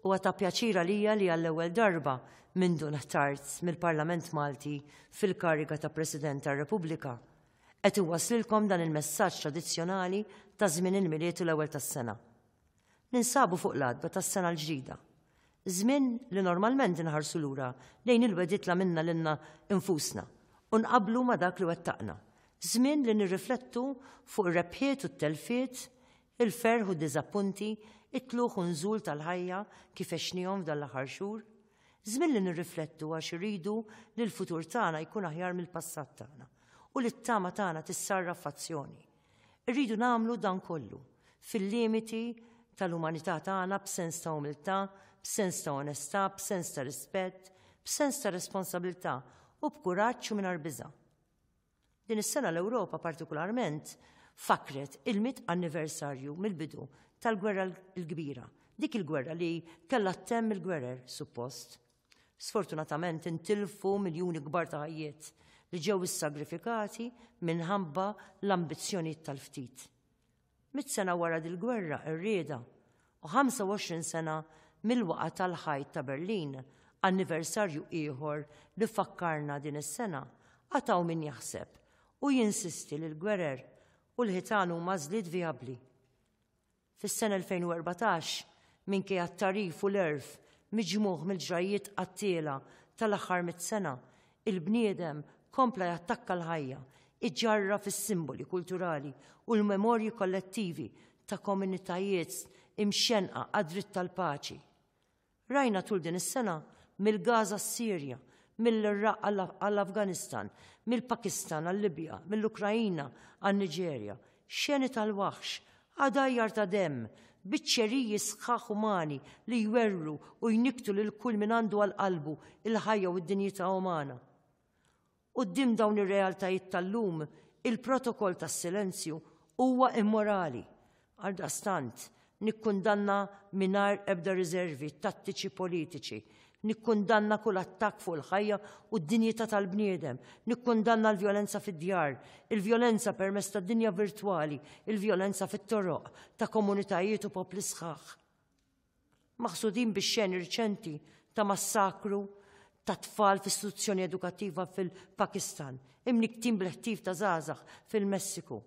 Huwa ta' pjaċir għalija li għall-ewwel darba mindu nħtart mill-Parlament Malti fil-kariga ta' President tar-Repubblika, qed iwasslilkom dan il-messaġġ tradizzjonali ta' żmien il-Milied u l-Ewwel tas-Sena. Ninsabu fuq l-għatba tas-Sena l-Ġdida, żmien li normalment inħarsu lura lejn il-wegħdiet l-għamilna lilna nfusna u nqabblu ma' dak li wettaqna, żmien li nirriflettu fuq ir-rebħiet u t-telfiet Il-ferħ u d-diżappunti, it-tlugħ u n-nżul tal-ħajja kif għexnihom f'dan l-aħħar xhur? Żmien li nirriflettu għax irridu li l-futur tagħna jkun aħjar mill-passat tagħna u li t-tama tagħna tissarraf f'azzjoni. Irridu nagħmlu dan kollu, fil-limiti tal-umanità tagħna b'sens ta' umiltà, b'sens ta' onestà, b'sens ta' rispett, b'sens ta' responsabilità u b'kuraġġ u mingħajr biża'. Din is-sena l-Ewropa partikularment fakkret il-mitt anniversarju mill-bidu tal-Gwerra l-Kbira, dik il-gwerra li kellha ttemm il-gwerer, suppost. Sfortunatament intilfu miljuni kbar ta' ħajjiet li ġew issagrifikati minħabba l-ambizzjonijiet tal-ftit. Mitt sena wara dil-gwerra qerrieda u 25 sena mill-waqgħa tal-ħajt ta' Berlin, anniversarju ieħor li fakkarna din is-sena, għad hawn min jaħseb u jinsisti li l-gwerer u l-ħitan huma għażliet vijabbli. Fis-sena 2014, minkejja t-tagħrif u l-għerf miġmugħ mill-ġrajjiet qattiela tal-aħħar mitt sena, Il-bniedem kompla jattakka l-ħajja, iġarraf is-simboli kulturali u l-memorji kollettivi ta' komunitajiet imxennqa għad-dritt tal-paċi. Rajna tul din is-sena mill-Gaża għas-Sirja, mill-Iraq għall-Afganistan, mill-Pakistan għal-Libja, mill-Ukraina għan-Niġerja, Xeni tal-waħx, għadajjar ta' demm, biċċeriji sħaħ umani li jwerwru u jnikktu lil kull min għandu għal qalbu l-ħajja u d-dinjità umana. Quddiem dawn ir-realtajiet tal-lum, il-protokoll tas-silenzju huwa immorali. Għaldaqstant, Nikkundanna mingħajr ebda riżervi t-tattiċi politiċi. Nikkundanna kull attakk fuq il-ħajja u d-dinjità tal-bniedem. Nikkundanna l-vjolenza fid-djar, il-vjolenza permezz tad-dinja virtwali, il-vjolenza fit-toroq ta' komunitajiet u popli sħaħ maħsudin bix-xeni riċenti ta' massakru ta' tfal f'istituzzjoni edukattiva fil-Pakistan, imniktin bl-ħtif ta' żgħażagħ fil-Messiku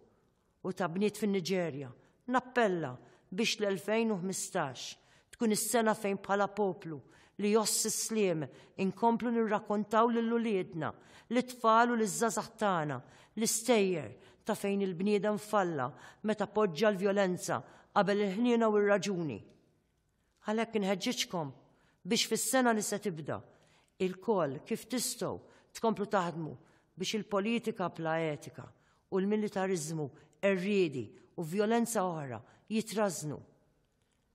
u ta' bniet fin-Niġerja, nappella biex l-2015 tkun is-sena fejn bħala poplu li jgħożż is-sliem inkomplu nirrakkontaw lil uliedna, lit-tfal u liż-żgħażagħ tagħna l-istejjer ta' fejn il-bniedem falla meta poġġa l-vjolenza qabel il-ħniena u r-raġuni. Għalhekk inħeġġiġkom biex fis-sena li se tibda, ilkoll kif tistgħu tkomplu taħdmu biex il-politika bla etika u l-militariżmu qerriedi u vjolenza oħra jitrażżnu.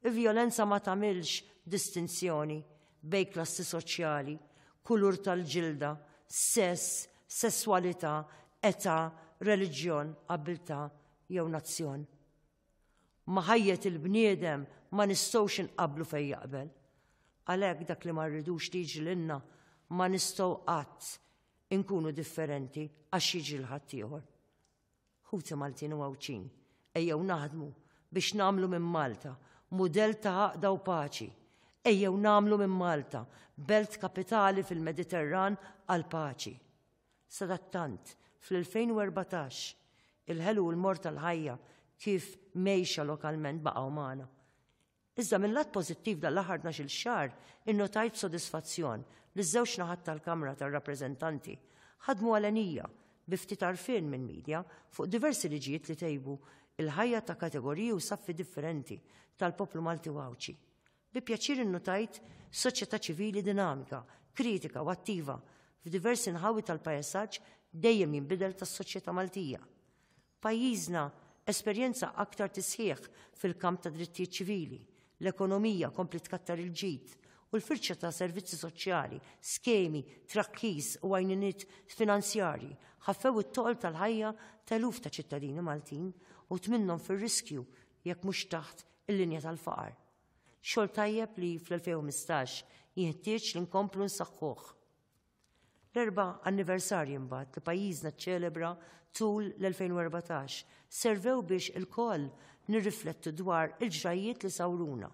Il-vjolenza ma tagħmilx distinzjoni bejn klassi soċjali, kulur tal-ġilda, sess, sesswalità, età, reliġjon, abbiltà jew nazzjon. Ma' ħajjet il-bniedem ma nistgħux inqabblu fejn jaqbel. Għalhekk dak li ma rridux li jiġri lilna ma nistgħu qatt inkunu differenti għax jiġri l-ħadd ieħor. Ħuti Maltin u Għawdxin, ejjew naħdmu biex nagħmlu minn Malta mudell ta' għaqda u paċi. Ejjew nagħmlu minn Malta belt kapitali fil-Mediterran għal paċi. Sadattant, fl-2014, il-ħelu u l-mort tal-ħajja kif mgħejxa lokalment baqgħu magħna. Iżda minn lat pożittiv dan l-aħħar 12-il xahar innotajt b'sodisfazzjon li ż-żewġ naħat tal-Kamra tar-Rappreżentanti ħadmu għalenija bi ftit għarfien minn media fuq diversi liġijiet li tejbu il-ħajja ta' kategoriji u saffi differenti tal-poplu Malti u Għawdxi. Bi pjaċir innutajt soċjetà ċivili dinamika, kritika u attiva f'diversi nħawi tal-paesaġġ dejjem jinbidel tas-soċjetà Maltija. Pajjiżna esperjenza aktar tisħiħ fil-kamp tad-drittijiet ċivili, l-ekonomija kompliet tkattar il-ġid, u l-firxa ta' servizzi soċjali, skemi, trakkis u għajniniet finanzjarji ħaffew it-toqol tal-ħajja ta' eluf ta' ċittadini Maltin u tminnhom fir-riskju jekk mhux taħt il-linja tal-faqar. Xogħol tajjeb li fl-2015 jinħtieġ li nkomplu nsaħħuh. L-erba anniversarju mbagħad li pajjiżna ċċelebra tul l-2014 servew biex il-koll nirriflettu dwar il-ġrajiet li sawruna.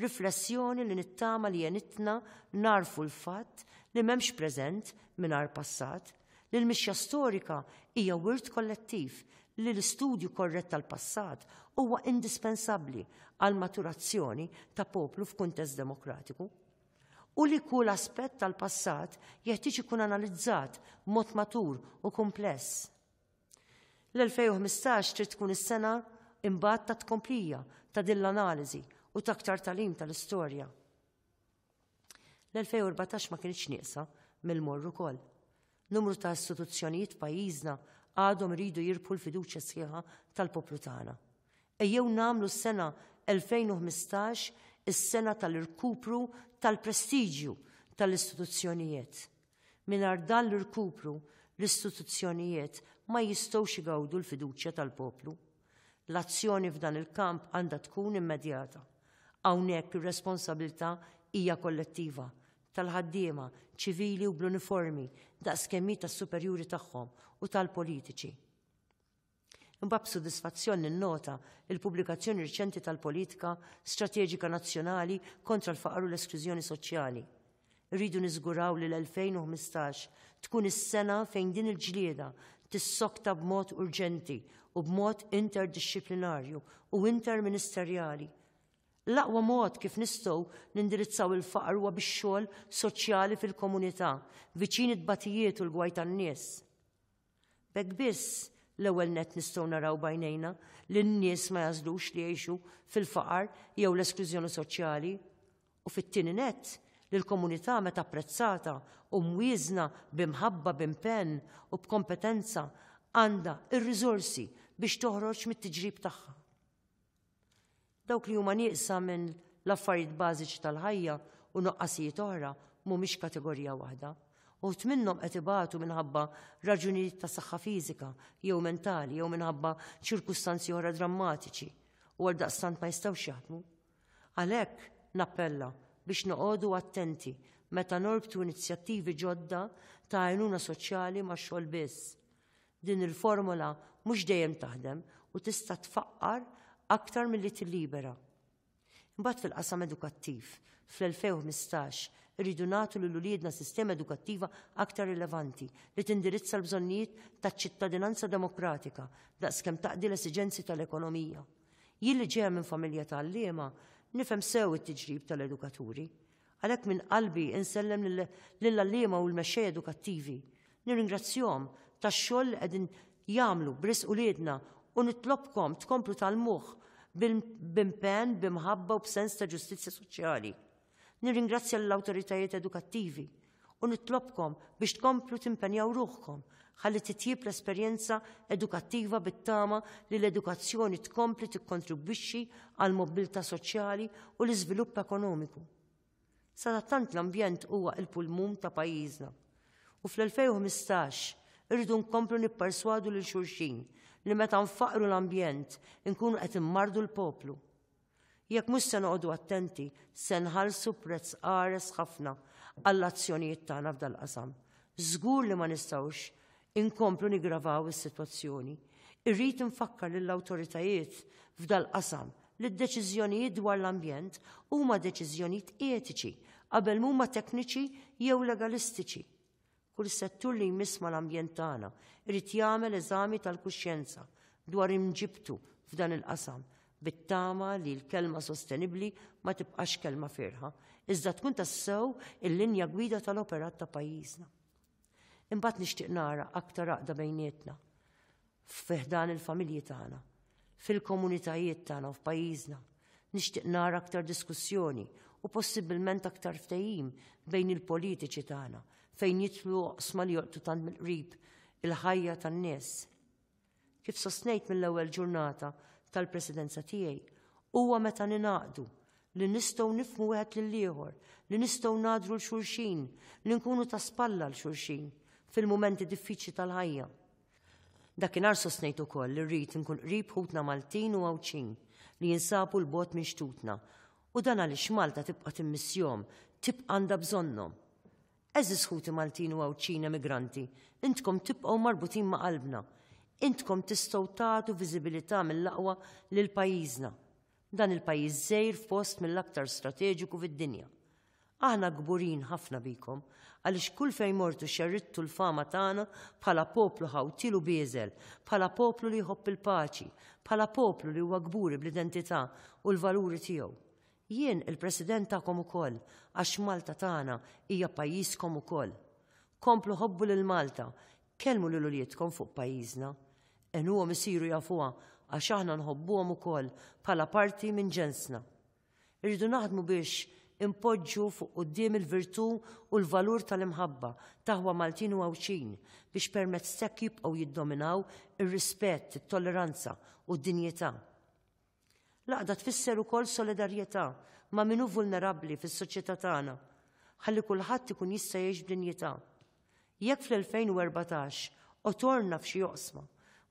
Riflessjoni li nittama li jenitna narfu l-fatt li memx preżent minar passat li l-mixja storika hija wirt kollettiv li l-istudju korrett tal-passat huwa indispensabbli għall-maturazzjoni ta' poplu f'kuntest demokratiku u li kull aspett tal-passat jeħtieġ ikun analizzat b'mod matur u kumpless. L-2015 trid tkun is-sena imbagħad ta' tkomplija ta' din l-analiżi u ta' aktar talim tal-istorja. L-2014 ma kienx nieqsa mill-morru ukoll. Numru ta' istituzzjonijiet pajjiżna għadhom iridu jirbħu l-fiduċja sħiħa tal-poplu tagħna. Ejjew nagħmlu s-sena 2015 is-sena tal-irkupru tal-prestiġju tal-istituzzjonijiet Mingħajr dan l-irkupru, l-istituzzjonijiet ma jistgħux igawdu l-fiduċja tal-poplu. L-azzjoni f'dan il-kamp għandha tkun immedjata. Hawnhekk ir-responsabilità hija kollettiva, tal-ħaddiema, ċivili u bl-uniformi daqskemm hi tas-superjuri tagħhom u tal-politiċi. Imbagħad b'sodisfazzjon ninnota l-pubblikazzjoni riċenti tal-Politika Strateġika Nazzjonali kontra l-Faqar u l-Esklużjoni Soċjali. Irridu niżguraw li l-2015 tkun is-sena fejn din il-ġlieda tissokta b'mod urġenti u b'mod interdixxiplinarju u interministerjali. L-aqwa mod kif nistgħu nindirizzaw il-faqar huwa bix-xogħol soċjali fil-komunità, viċin it-tbatijiet u l-gwaj tan-nies. B'hekk biss, l-ewwel nett nistgħu naraw b'għajnejna li n-nies ma jagħżlux li jgħixu fil-faqar jew l-esklużjoni soċjali, u fit-tieni nett, li l-komunità meta apprezzata u mwieżna b'imħabba, b'impenn u b'kompetenza għandha r-riżorsi biex toħroġ mit-tiġrib tagħha. Dawk li huma nieqsa minn l-affarijiet bażiċi tal-ħajja u nuqqasijiet oħra mhumiex kategorija waħda. Uħud minnhom qed ibatu minħabba raġunijiet ta' saħħa fiżika jew mentali jew minħabba ċirkustanzi oħra drammatiċi u għaldaqstant ma jistgħux jaħdmu. Għalhekk nappella biex noqogħdu attenti meta norbtu inizjattivi ġodda ta' għajnuna soċjali ma' xogħol biss. Din il-formola mhux dejjem taħdem u tista' tfaqqar aktar milli tillibera. Imbagħad fil-qasam edukattiv, fl-2015 irridu nagħtu lil uliedna sistema edukattiva aktar rilevanti li tindirizza l-bżonnijiet taċ-ċittadinanza demokratika daqskemm taqdi l-esiġenzi tal-ekonomija. Jien li ġejja minn familja ta' għalliema, nifhem sew it-tiġrib tal-edukaturi. Għalhekk minn qalbi insellem lill-għalliema u l-mexxejja edukattivi. Nirringrazzjahom tax-xogħol li qegħdin jagħmlu b'risq uliedna u nitlobkom tkomplu tgħallmuh b'impenn, b'imħabba u b'sens ta' ġustizzja soċjali. Nirringrazzja lill-awtoritajiet edukattivi u nitlobkom biex tkomplu timpenjaw ruħkom ħalli titjieb l-esperjenza edukattiva bit-tama li l-edukazzjoni tkompli tikkontribwixxi għal mobbiltà soċjali u l-iżvilupp ekonomiku. Sadattant l-ambjent huwa il-pulmun ta' pajjiżna. U fl-2015 irridu nkomplu nipperswadu lil xulxin li meta nfaqru l-ambjent inkunu qed immardu l-poplu. Jekk mhux se noqogħdu attenti, se nħallsu prezz qares ħafna għall-azzjonijiet tagħna f'dal-qasam. Żgur li ma nistgħux inkomplu niggravaw is-sitwazzjoni. Irrid infakkar lill-awtoritajiet f'dal-qasam li d-deċiżjonijiet dwar l-ambjent huma deċiżjonijiet etiċi qabel m'huma tekniċi jew legalistiċi. Kull settur li jmiss mal-ambjent tagħna irid jagħmel eżami tal-kuxjenza dwar imġibtu f'dan il-qasam bit-tama li l-kelma sostenibbli ma tibqax kelma fierħa, iżda tkun tassew il-linja gwida tal-operat ta' pajjiżna. Imbagħad nixtieq nara aktar għaqda bejnietna. fi ħdan il-familji tagħna, fil-komunitajiet tagħna u f'pajjiżna. Nixtieq nara aktar diskussjoni u possibilment aktar ftehim bejn il-politiċi tagħna fejn jitlu oqsma li joqtu tant mill-qrib il-ħajja tan-nies. Kif sostnejt mill-ewwel ġurnata tal-presidenza tiegħi, huwa meta ninaqdu li nistgħu nifmu wieħed lil ieħor, li nistgħu nadru l-xulxin, li nkunu ta' spalla l-xulxin fil-momenti diffiċli tal-ħajja. Dakinhar sostnejt ukoll li rrid inkun qrib ħutna Maltin u Għawdxin li jinsabu l bogħod minn xtutna u dan għaliex Malta tibqa' timmissjhom, tibqa' għandha bżonnhom. Għeżież ħuti Maltin u Għawdxin emigranti, intkom tibqgħu marbutin ma' qalbna. Intkom tistgħu tagħtu viżibilità mill-aqwa lil pajjiżna. Dan il-pajjiż żgħir f'post mill-aktar strateġiku fid-dinja. Aħna kburin ħafna bikom għaliex kull fejn mortu xerridtu l-fama tagħna bħala poplu ħawtiel u bieżel, bħala poplu li jħobb il-paċi, bħala poplu li huwa kburi bl-identità u l-valuri tiegħu. Jien il-President tagħkom ukoll, għax Malta tagħna hija pajjiżkom ukoll. Komplu ħobbu lil Malta, kellmu lil uliedkom fuq pajjiżna. Għenuhom isiru jafuha għax aħna nħobbuhom ukoll bħala parti minn ġensna. Irridu naħdmu biex inpoġġu fuq quddiem il-virtù u l-valur tal-imħabba, t'aħwa Maltin u Għawdxin, biex permezz t'hekk jibqgħu jiddominaw ir-rispett, it-tolleranza u d-dinjità. L-għaqda tfisser ukoll solidarjetà ma' min hu vulnerabbli fis-soċjetà tagħna, ħalli kulħadd ikun jista' jgħix b'dinjità. Jekk fl-2014 qotorna f'xi oqsma,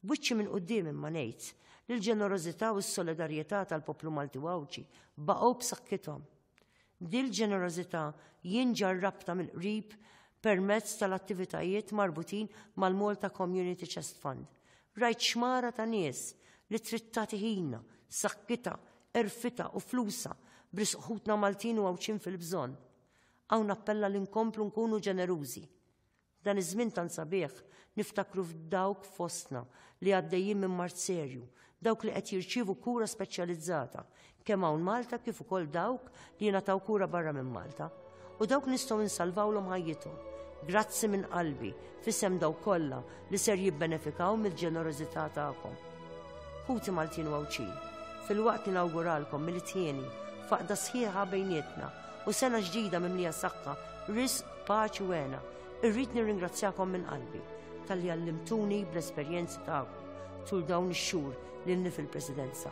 b'wiċċi minn quddiem imma ngħid li l-ġenerożità u s-solidarjetà tal-poplu Malti u Għawdxi baqgħu b'saħħithom. Dil-ġenerożità jien ġarrabtha mill-qrib permezz tal-attivitajiet marbutin mal-Malta Community Chest Fund. Rajt xmara ta' nies li trid tagħti ħinha, sakkitha, għerfitha u flusha b'risq ħutna Maltin u Għawdxin fil-bżonn. Hawn nappella li nkomplu nkunu ġenerużi. F'dan iż-żmien tant sabiħ, niftakru f'dawk fostna li għaddejjin minn mard serju, dawk li qed jirċievu kura speċjalizzata, kemm hawn Malta kif ukoll dawk li jingħataw kura barra minn Malta, u dawk nistgħu nsalvawlhom ħajjithom. Grazzi minn qalbi, f'isem dawk kollha li ser jibbenefikaw mill-ġenerożità tagħkom. Ħuti Maltin u Għawdxin, filwaqt li nawguralkom mill-tieni faqda sħiħa bejnietna u sena ġdida mimlija saħħa, ris, paċi u għena, irrid nirringrazzjakom minn qalbi tal-li għallimtuni bl-esperjenzi tagħkom tul dawn ix-xhur lilni fil-Presidenza.